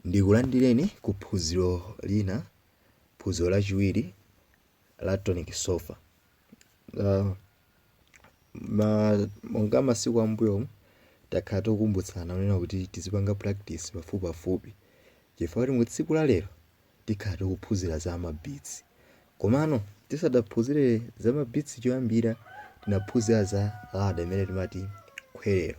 Ndikulandireni ku phunziro lina, phunziro lachiwiri la tonic solfa. Uh, ma, monga masiku ambuyomu takhala tokumbutsana kunena kuti tizipanga practice pafupipafupi chifukwa kuti mu tsiku la lero tikhala tikuphunzira za mabeats komano tisadaphunzire za mabeats choyambira tinaphunzira za ladder imene timati khwerero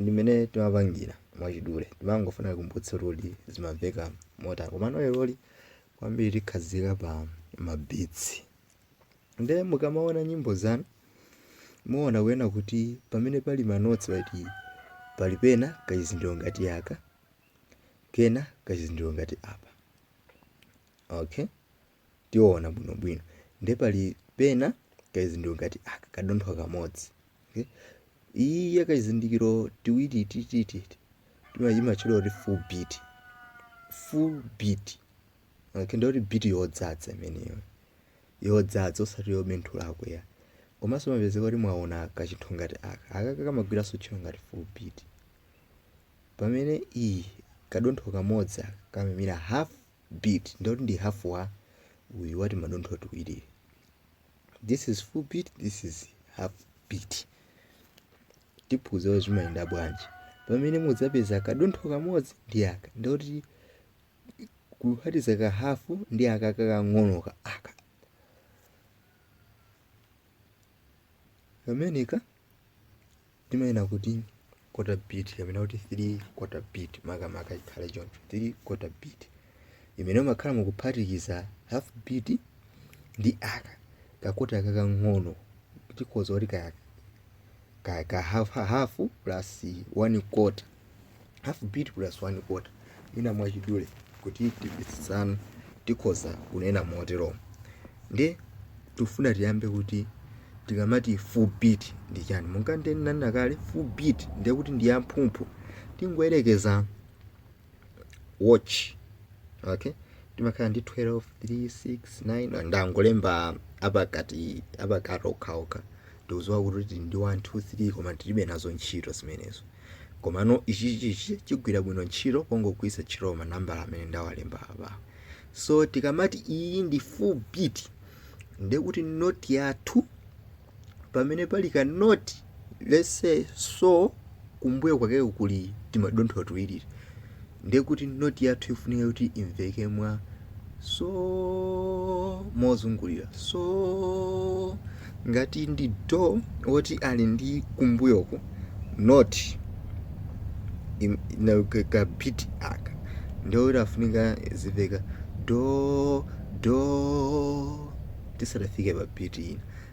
ndimene timapangira mwachidule timangofuna kukumbutsa zoti zimamveka motani komano leroli kwambiri tikhazika pa mabeats nde mukamaona nyimbo zanu muona kunena kuti pamene pali manotsi pati pali pena kachizindikiro ngati aka kena kachizindikiro ngati apa okay tiona bwinobwino nde pali pena kachizindikiro ngati aka kadontho kamodzi okay? iyi kachizindikiro tiwiri titititi timayitcha kuti full beat full beat okay? ndiye kuti beat yodzadza imeneyo yodzadza osati yobenthulako ya komanso mupezeka kuti mwaona kachinthu ngati aka akaka kamagwiranso ntchito ngati full beat pamene iyi kadontho kamodzi aka kamaimira half beat ndoti ndi half wa uyu wa timadontho tiwiri this is full beat this is half beat tiphunzira zimayenda bwanji pamene mudzapeza kadontho kamodzi ndi aka ndoti kuphatiza ka hafu ndi aka kakang'onoka aka kameneka timanena kuti quarter beat kapena kuti 3 quarter beat makamaka ikhale choncho 3 quarter beat imene umakhala mukuphatikiza half beat ndi aka kakota kakang'ono tikhoza kuti ka ka, ka half, half plus 1 quarter half beat plus one quarter mwina mwachidule kuti timvetsetsane tikhoza kunena moteromo nde tifuna tiyambe kuti tikamati full beat ndi chani monga ndinanena kale full beat ndiye kuti ndi yamphumphu tingoyerekeza watch okay timakhala ndi 12 3 6 9 ndangolemba apakati apakati okhaokha Ndikudziwa kuti tili ndi 1 2 3 koma tilibe nazo ntchito zimenezo. Komano ichichi ichi chigwira bwino ntchito pongogwiritsa ntchito manambala amene ndawalemba apawa. So tikamati iyi ndi full beat ndiye kuti note yathu pamene pali ka note let's say so kumbuyo kwakeko kuli timadontho tuwiri ndiye kuti noti yathu ikufunika kuti imveke mwa so mozungulira so ngati ndi do woti ali ndi kumbuyoko noti ka beat aka ndiye kuti afunika zimveka do do tisadafike pa beat ina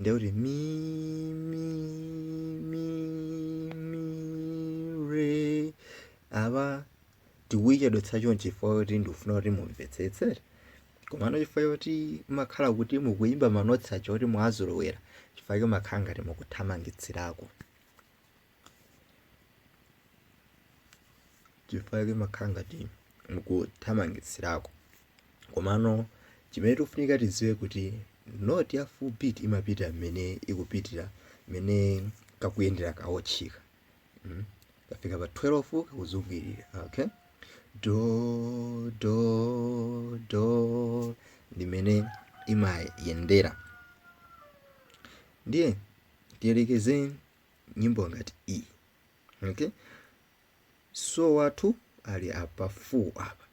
ndiye kuti mi mi mi mi re apa tikuyichedwetsa chonchi chifukwa kuti ndikufuna kuti mumvetsetse komano chifukwa choti makhala kuti mukuyimba manotsi aja kuti mwazolowera chifukwa chomakhala ngati mukuthamangitsirako chifukwa chake makhala ngati mukuthamangitsirako komano chimene tikufunika tidziwe kuti noti ya full beat imapita mmene ikupitira mmene kakuyendera kawotchika mm? kafika pa 12 kakuzungulira okay do do do ndimene imayendera ndiye tiyerekeze nyimbo ngati iyi okay so wathu ali apa full apa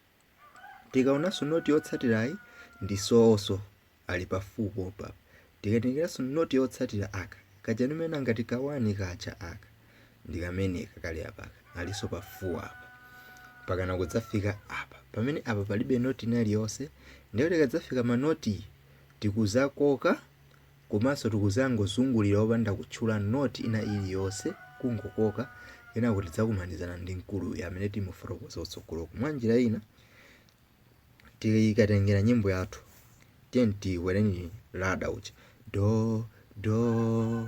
tikaonanso noti yotsatirayi ndi soso ali pa full popa tikatenganso noti yotsatira aka kaja nimena ngati kawani kaja aka ndikameneka kali apaka alinso pa full apa pakana kudzafika apa pamene apa palibe noti ina iliyonse ndipo tikadzafika manoti tikudzakoka Komanso tikudzangozungulira opanda kutchula noti ina iliyonse, kungokoka, kenako tidzakumanizana ndi mkuluyu amene timufotokoza kutsogoloko. Mwanjira ina, tikatengera nyimbo yathu, tiyeni tikwere ladder uja, do, do,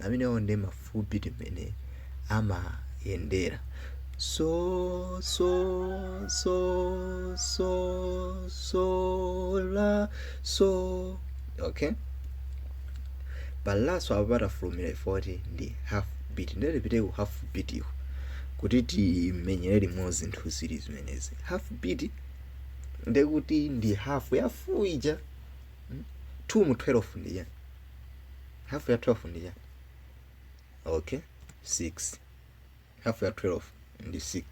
amenewo ndi ma full beat mmene amayendera so so so so so la so okay pa la so apa patafulumira chifukwa choti ndi half beat nde tipite ku half beat iko kuti timenyere limodzi zinthu zili zimenezi half beat ndekuti ndi half ya full ija 2 mu 12 ndiye hafu ya 12 ndi chani okay 6 hafu ya 12 ndi 6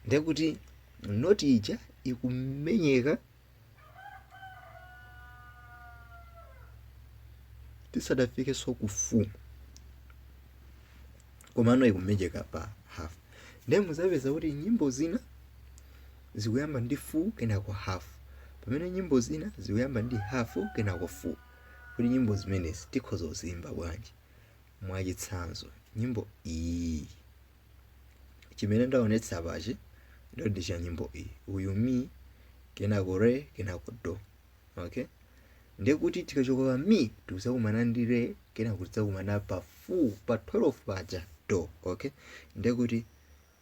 ndekuti noti ija ikumenyeka tisadafike so ku full komano ikumenyeka pa half ndiye mudzapeza kuti nyimbo zina zikuyamba ndi full kenako half, pamene nyimbo zina zikuyamba ndi half kenako full. Kodi nyimbo zimenezi tikhoza kuziimba bwanji? Mwachitsanzo, nyimbo iyi, chimene ndaonetsa apachi ndo ndi cha nyimbo iyi, uyu mi kenako re kenako do. Okay, ndiye kuti tikachoka pa mi tikuzakumana ndi re kenako tidzakumana pa full pa 12 paja do. Okay, ndiye kuti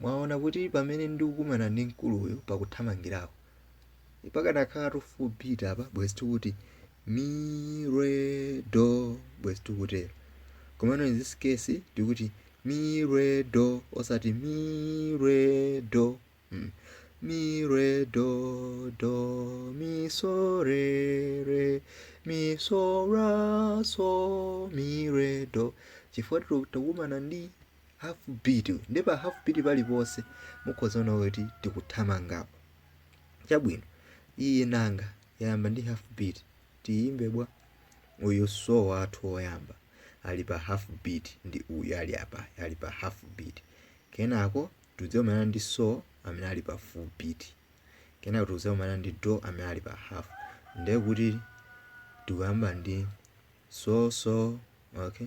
Mwaona kuti pamene ndikukumana ndi mkuluyo pakuthamangirako, pakanakhala full beat apa, bwezi tikuti mi, re, do, bwezi tikutero. Komano in this case tikuti mi, re, do, osati mi, re, do, mm. mi, re, do, do, mi, so, re, re, mi, so, la, so, mi, re, do, chifukwa takumana ndi half beat ndi pa half beat paliponse mukhoza kuona kuti tikuthamangapo chabwino iyi nanga yayamba ndi half beat tiyimbe bwa uyu so wathu woyamba ali pa half beat ndi uyu ali apa ali pa half beat kenako tidzakumana ndi so amene ali pa full beat kenako tidzakumana ndi do amene ali pa half ndiye kuti tikuyamba ndi so so okay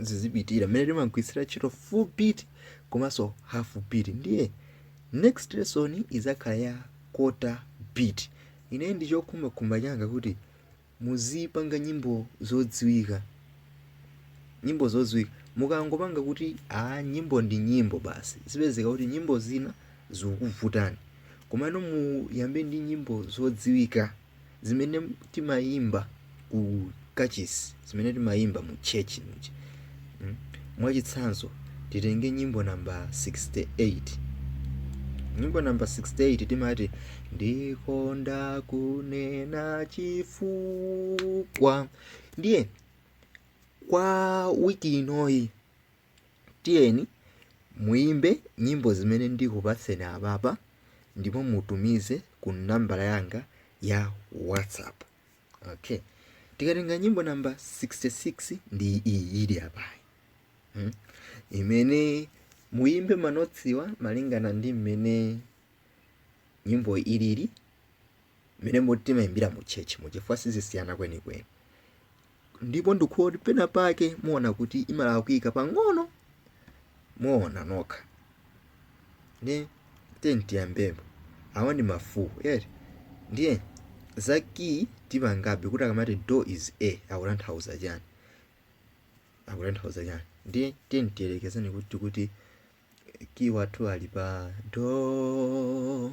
zizipitira mmene timagwiritsira ntchito full beat komanso half beat ndiye next lesson izakhala ya quarter beat ine ndi chokhumbakhumba changa kuti muzipanga nyimbo zodziwika nyimbo zodziwika mukangopanga kuti a nyimbo ndi nyimbo basi zipezeka kuti nyimbo zina zikuvutani komano muyambe ndi nyimbo zodziwika zimene timayimba ku kachisi zimene timayimba mu church muja mm? mwachitsanzo titenge nyimbo namba 68 nyimbo namba 68 timati ndikonda kunena chifukwa ndiye kwa wiki inoyi tiyeni muimbe nyimbo zimene ndikupatseni apapa ndipo mutumize ku nambala yanga ya whatsapp okay tikatenga nyimbo namba 66 ndi iyi ili apayi hmm? imene muimbe manotsiwa malingana ndi mmene nyimbo ilili mmene timaimbira mu church mu chifukwa sizisiyana kwenikweni ndipo ndikuona kuti pena pake muona kuti imalakwika pang'ono muona nokha ndiye tiyeni tiyambepo awa ndi ma full eti ndiye za kiyi tipangabe kuti akamati do is a akutanthauza chani akutanthauza chani ndiye tiyeni tiyerekezeni kuti tikuti kiyi wathu ali pa do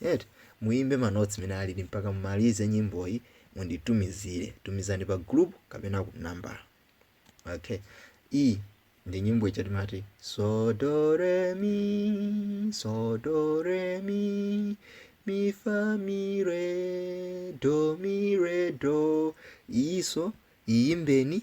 eti? Muimbe ma notes mene alili mpaka mumalize nyimboyi munditumizire. Tumizani pa group kapena ku nambala. Okay. E ndi nyimbo ija timati so do re mi so do re mi mi fa mi re do mi re do iso iyimbeni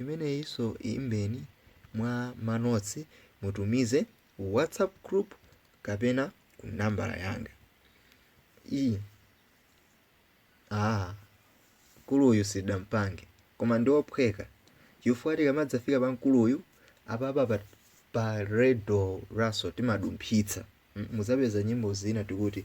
Imeneyinso iyimbeni mwa ma notes mutumize ku whatsapp group kapena ku nambala yanga iyi. Ah, mkuluyu sitidampange koma ndi ophweka chifukwa tikamadzafika pa mkuluyu apapa pa, pa re do la so timadumphitsa Mm, muzapeza nyimbo zina tikuti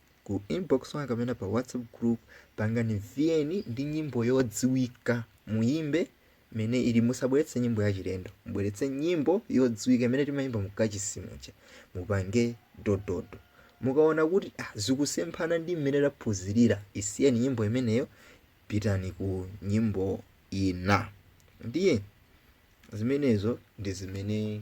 ku inbox wanga kapena pa whatsapp group pangani VN ndi nyimbo yodziwika muyimbe mmene ili musabweretse nyimbo yachilendo mubweretse nyimbo yodziwika imene timayimba mukachisi muja mupange dododo mukaona kuti ah, zikusemphana ndi mmene taphunzirira isiyeni nyimbo imeneyo pitani ku nyimbo ina ndiye zimenezo ndi zimene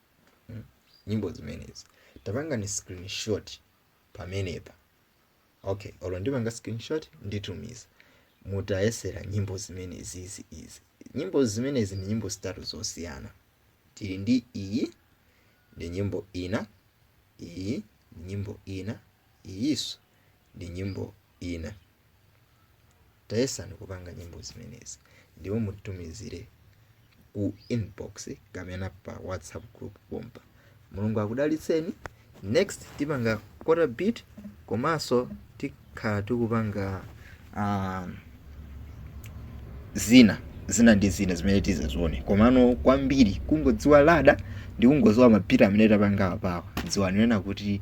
mm. nyimbo zimenezi tapangani screenshot pamenepa okay olo ndipanga screenshot nditumiza mutayesere nyimbo zimenezi izi izi nyimbo zimenezi ndi nyimbo zitatu zosiyana tili ndi iyi ndi nyimbo ina iyi ndi nyimbo ina iyiso ndi nyimbo ina. Tayesani kupanga nyimbo zimenezi ndipo mutumizire ku inbox kapena pa WhatsApp group pompa. Mulungu akudalitseni. Next tipanga quarter beat komanso tikhala tikupanga um, zina zina ndi zina zimene tizazione komano kwambiri kungodziwa lada ndi kungodziwa mabhiti amene tapanga apawa dziwani kuti